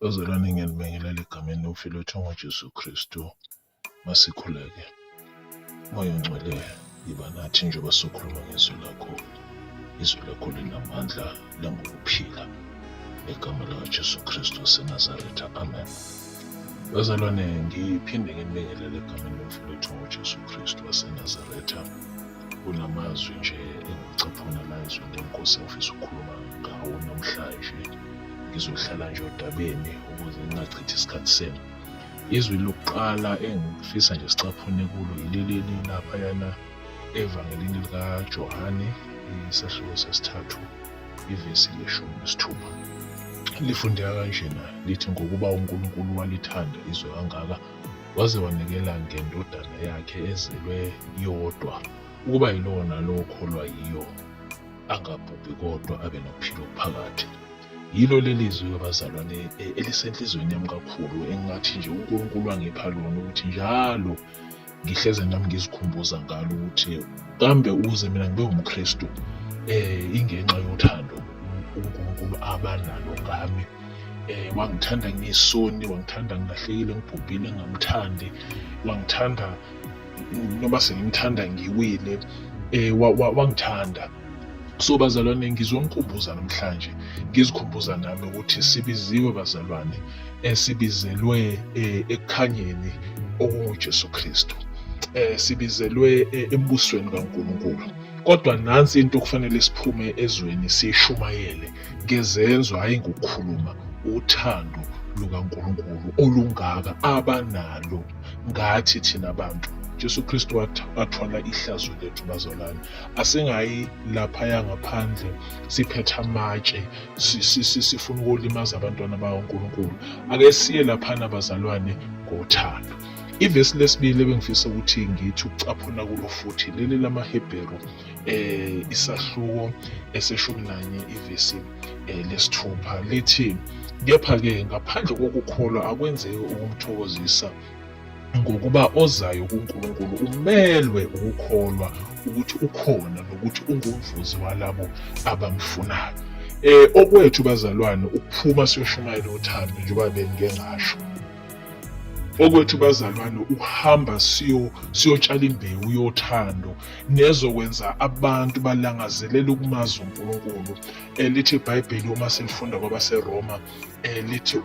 Bazalwane ngiyanibingelela egameni lomfile othiwa ngoJesu Kristu. Masikhuleke. Moya ongcwele yiba nathi njengoba sokhuluma ngezwi lakho. Izwi lakho linamandla langokuphila. Ngegama likaJesu Kristu waseNazaretha. Amen. Bazalwane ngiphinde nginibingelele egameni lomfile othiwa ngoJesu Kristu waseNazaretha. Kunamazwi nje engicaphuna la ezwini lenkosi engifisa ukukhuluma ngawo namhlanje. ngizohlala nje odabeni ukuze ngingachithi isikhathi senu izwi lokuqala engifisa nje sicaphune kulo yileleni laphayana evangelini likajohane isahluko sesithathu ivesi leshumi nesithupha lifundeka kanjena lithi ngokuba unkulunkulu walithanda izwe kangaka waze wanikela ngendodana yakhe ezelwe yodwa ukuba yilona lokholwa yiyo angabhubhi kodwa abe nophilo phakathi yilo leli zwi abazalwane e, elisenhlizweni yami kakhulu engathi nje unkulunkulu angipha lona ukuthi njalo ngihleze nami ngizikhumbuza ngalo ukuthi kambe ukuze mina ngibe umkristu um eh, ingenxa yothando unkulunkulu abanalo ngami eh wangithanda ngisoni wangithanda ngilahlekile ngibhubhile ngamthandi wangithanda noma sengimthanda ngiwile eh wangithanda so bazalwane ngizonikhumbuza namhlanje ngizikhumbuza nami ukuthi sibiziwe bazalwane esibizelwe eh, ekukhanyeni okunguJesu Kristu eh sibizelwe eh, embusweni kaNkuluNkulu kodwa nansi into okufanele siphume ezweni sishumayele ngezenzo hhayi ngokukhuluma uthando lukaNkulunkulu olungaka abanalo ngathi thina bantu Jesu Kristu wathwala ihlazo lethu bazalwane asingayi laphaya ngaphandle siphethe amatshe sifuna ukolimaza abantwana bakaNkulunkulu ake siye laphana bazalwane ngothando ivesi lesibili ebengifisa ukuthi ngithi ukucaphuna kulo futhi leli lamaHebheru eh isahluko eseshumi nanye ivesi eh, lesithupha lithi kepha-ke ngaphandle kokukholwa akwenzeki ukumthokozisa ngokuba ozayo kuNkulunkulu umelwe ukukholwa ukuthi ukhona nokuthi ungumvuzi walabo abamfunayo eh okwethu bazalwane ukuphuma siyoshumayela uthando njengoba bengike ngasho okwethu bazalwane ukuhamba siyo siyotshala imbewu yothando nezokwenza abantu balangazelele ukumazi uNkulunkulu eh, lithi iBhayibheli uma silifunda kwabaseRoma eh, lithi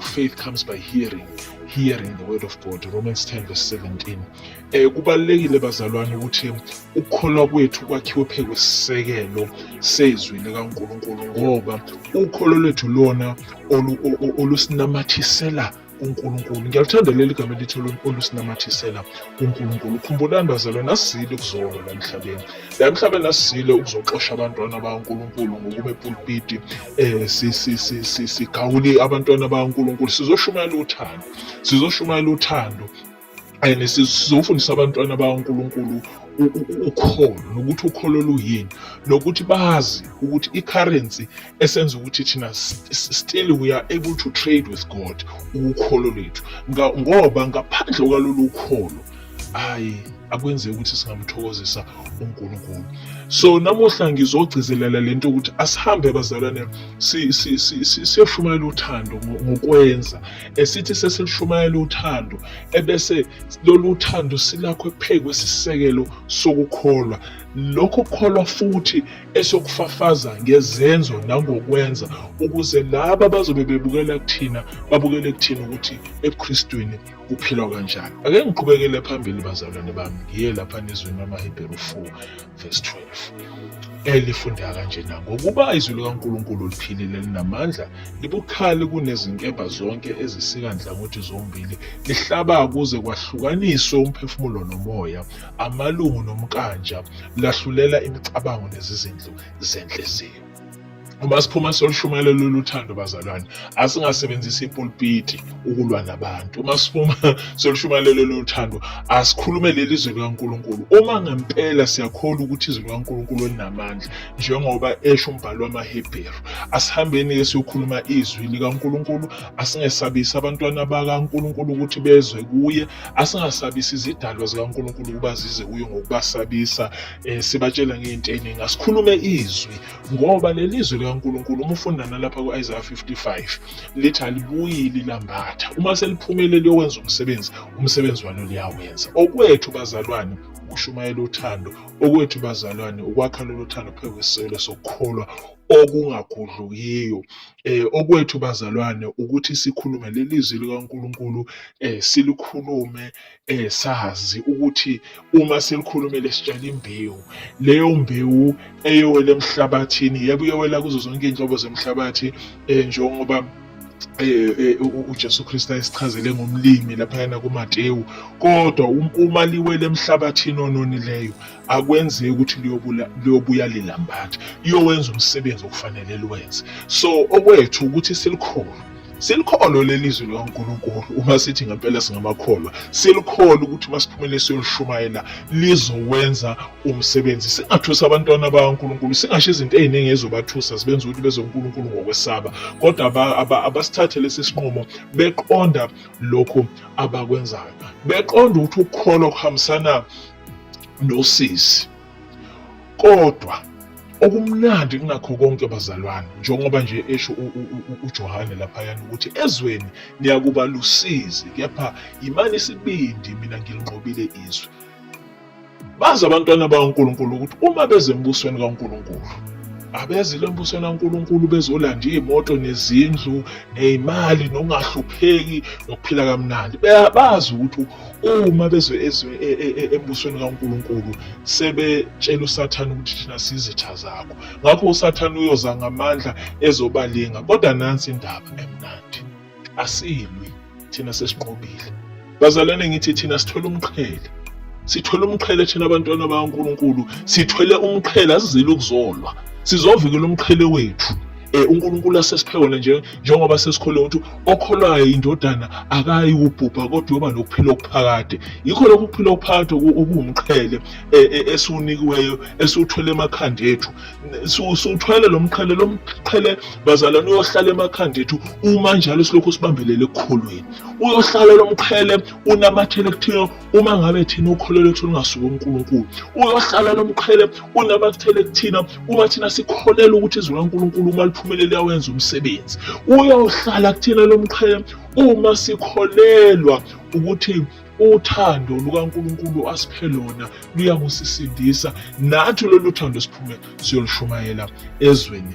faith comes by hearing hearing the word of God Romans 10 verse 17 Eh kubalekile bazalwane ukuthi ukukholwa kwethu kwakhiwe phe kwesisekelo sezwi likaNkuluNkulu ngoba ukholo lwethu lona olusinamathisela uNkulunkulu ngiyaluthanda leli gama elithi olusinamathisela uNkulunkulu khumbulani bazalwane asizile ukuzolwa la emhlabeni la emhlabeni asizile ukuzoxosha abantwana bakaNkulunkulu ngokuma epulpiti um sigawule abantwana bakaNkulunkulu sizoshumayela uthando sizoshumayela uthando and sizofundisa abantwana bakaNkulunkulu ukholo nokuthi ukholo luyini nokuthi bazi ukuthi i-currency esenza ukuthi thina still we are able to trade with God ukholo lwethu ngoba ngaphandle kwalolu kholo ayi akwenzeki ukuthi singamthokozisa uNkulunkulu so namuhla ngizogcizelela lento ukuthi asihambe bazalwane siyoshumayela uthando ngokwenza esithi sesilushumayela uthando ebese lolu thando silakho ephezu kwesisekelo sokukholwa lokho kukholwa futhi esokufafaza ngezenzo nangokwenza ukuze laba bazobe bebukela kuthina babukele kuthina ukuthi ebuKristwini kuphilwa kanjani ake ngiqhubekele phambili bazalwane bami ngiye lapha nezweni lamaHebheru 4 verse 12 elifundeka kanjena ngokuba izwi likaNkulunkulu liphilile linamandla libukhali kunezinkemba zonke ezisika nhlangothi zombili lihlaba kuze kwahlukaniswe umphefumulo nomoya amalungu nomkanja lahlulela imicabango nezizindlu zenhliziyo Uma siphuma solushumayela lolu thando bazalwane, asingasebenzisi ipulpiti ukulwa nabantu. Uma siphuma solushumayela lolu thando, asikhulume leli zwi likaNkulunkulu. Uma ngempela siyakholwa ukuthi izwi likaNkulunkulu linamandla, njengoba esho umbhalo wamaHebheru, asihambeni-ke siyokhuluma izwi likaNkulunkulu, asingesabisi abantwana bakaNkulunkulu ukuthi bezwe kuye, asingasabisi izidalwa zikaNkulunkulu ukuba zize kuye ngokubasabisa, um sibatshela ngey'nto ey'ningi. Asikhulume izwi ngoba leli zwi likaNkulunkulu uma ufunda nalapha ku-Isaiah 55 lithi alibuyi lilambatha uma seliphumele liyokwenza umsebenzi umsebenzi walo liyawenza okwethu bazalwane ukushumayela uthando okwethu bazalwane ukwakha lolu thando phezu kwesiselo sokukholwa okungagudlukiyo eh okwethu bazalwane ukuthi sikhulume lelizwi likaNkuluNkulu eh silikhulume eh sazi ukuthi uma selikhulumele sitshela imbewu leyo mbewu eyowela emhlabathini yebo uyowela kuzo zonke izinhlobo zemhlabathi eh njengoba Eh, eh, uJesu Kristu ayisichazele ngomlimi laphayana kuMatewu kodwa um, uma liwele emhlabathini ononileyo akwenzeki ukuthi liyobuya lilambatha liyowenza umsebenzi okufanele liwenze so okwethu ukuthi silikholwe Silikholwe leli zwi likaNkulunkulu uma sithi ngempela singamakholwa. Silikholwe ukuthi uma siphumele siyolishumayela lizowenza umsebenzi. Singathusa abantwana bakaNkulunkulu, singasho izinto eziningi ezizobathusa zibenza ukuthi bezwe uNkulunkulu ngokwesaba. Kodwa abasithathe lesi sinqumo beqonda lokhu abakwenzayo. Beqonda ukuthi ukukholwa kuhambisana nosisi. kodwa okumnandi kunakho konke bazalwane njengoba nje esho uJohane laphayana ukuthi ezweni niyakuba lusizi kepha yimani isibindi mina ngilinqobile izwe bazi abantwana bakaNkulunkulu ukuthi uma beze embusweni kaNkulunkulu abezile embusweni kaNkulunkulu bezolanda iy'moto nezindlu ney'mali nokungahlupheki nokuphila kamnandi bazi ukuthi uma bezwe ezwe e, e, e, embusweni kaNkulunkulu sebetshela uSathane ukuthi thina sizitha zakho ngakho uSathane uyoza ngamandla ezobalinga kodwa nansi indaba emnandi asilwi thina sesinqobile bazalwane ngithi thina sithola umqhele sithwele umqhele thina abantwana bakaNkulunkulu sithwele umqhele asizile ukuzolwa sizovikela umqhele wethu um uNkulunkulu asesiphe wona nje njengoba sesikholwa ukuthi okholwayo indodana akayi kubhubha kodwa uyoba nokuphila okuphakade yikho lokhu kuphila okuphakade okuwumqhele e, e, esiwunikiweyo esiwuthwele emakhanda ethu siwuthwele lo mqhele lo mqhele bazalwane uyohlala emakhanda ethu uma njalo silokhu sibambelele ekukholweni uyohlala lo mqhele unamathele kuthina uma ngabe thina ukholo lwethu lungasuka uNkulunkulu uyohlala lo mqhele unabakuthele kuthina uma thina sikholelwa ukuthi izwi laNkulunkulu uma liphumele liyawenza umsebenzi uyohlala kuthina lo mqhele uma sikholelwa ukuthi uthando lukaNkulunkulu asiphe lona luyangusisindisa nathi lolu thando siphume siyolishumayela ezweni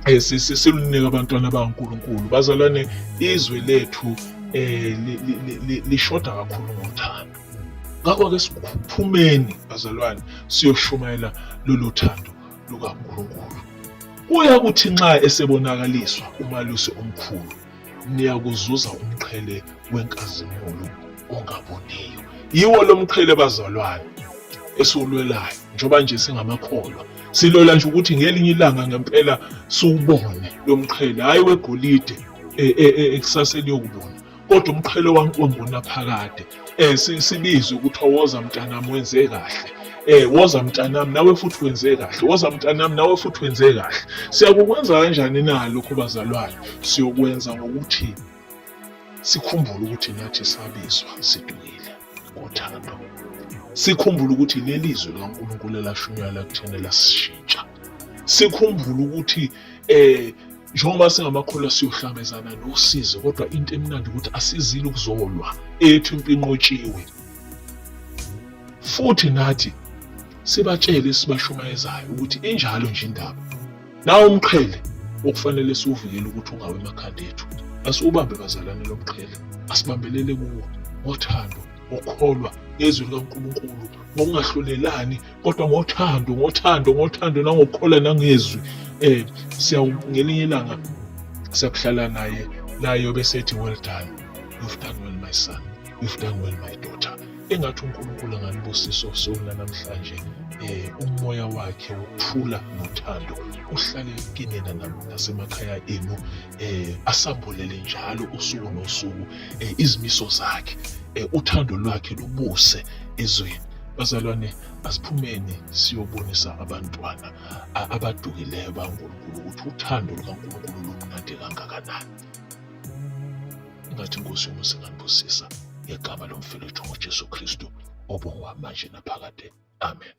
eh, silunika abantwana abankulunkulu bazalwane izwe lethu eh lishoda kakhulu ngothando ngakho ke siphumeni bazalwane siyoshumayela lolu thando lukaNkulunkulu kuya kuthi nxa esebonakaliswa umalusi omkhulu niyakuzuza umqhele wenkazimulo ongaboniyo yiwo lo mqhele bazalwane esiwulwelayo njengoba nje singamakholwa silola nje ukuthi ngelinye ilanga ngempela siwubone lo mqhele hhayi wegolide e, e, e, ekusaseni yokubona kodwa umqhele wankongonaphakade eh sibizwe ukuthi woza mntanami wenze kahle eh woza mntanami nawe futhi wenze kahle woza mntanami nawe futhi wenze kahle siyakukwenza kanjani na lokho bazalwane siyokwenza ngokuthi sikhumbule ukuthi nathi sabizwa sidukile ngothando sikhumbule ukuthi leli zwi likaNkulunkulu elashunywa lakuthena lasishintsha sikhumbule ukuthi eh Njengoba singamakholwa siyohlangabezana nosizi kodwa into emnandi ukuthi asizile ukuzolwa ethu impinqotshiwe. Futhi nathi sibatshele sibashumayezayo ukuthi injalo nje indaba. Nawo umqhele okufanele siwuvikele ukuthi ungawe emakhanda ethu. Asiwubambe bazalwane lo mqhele, asibambelele kuwo ngothando, ngokukholwa ngezwi likaNkulunkulu, ngokungahlulelani kodwa ngothando ngothando ngothando nangokukhola nangezwi eh siyangelinye ilanga siyakuhlala naye nayo bese ethi well done you've done well my son you've done well my daughter engathi uNkulunkulu angalibusisa usona namhlanje eh umoya wakhe uthula nothando uhlale kinina nasemakhaya enu eh asambulele njalo usuku nosuku eh, izimiso zakhe eh, uthando lwakhe lubuse ezweni bazalwane asiphumeni siyobonisa abantwana abadukileyo baNkulunkulu ukuthi uthando lukaNkulunkulu lumnandi kangakanani ingathi inkosi yomusa inganibusisa ngegama lomfelethu ngojesu kristu obongwa manje naphakade amen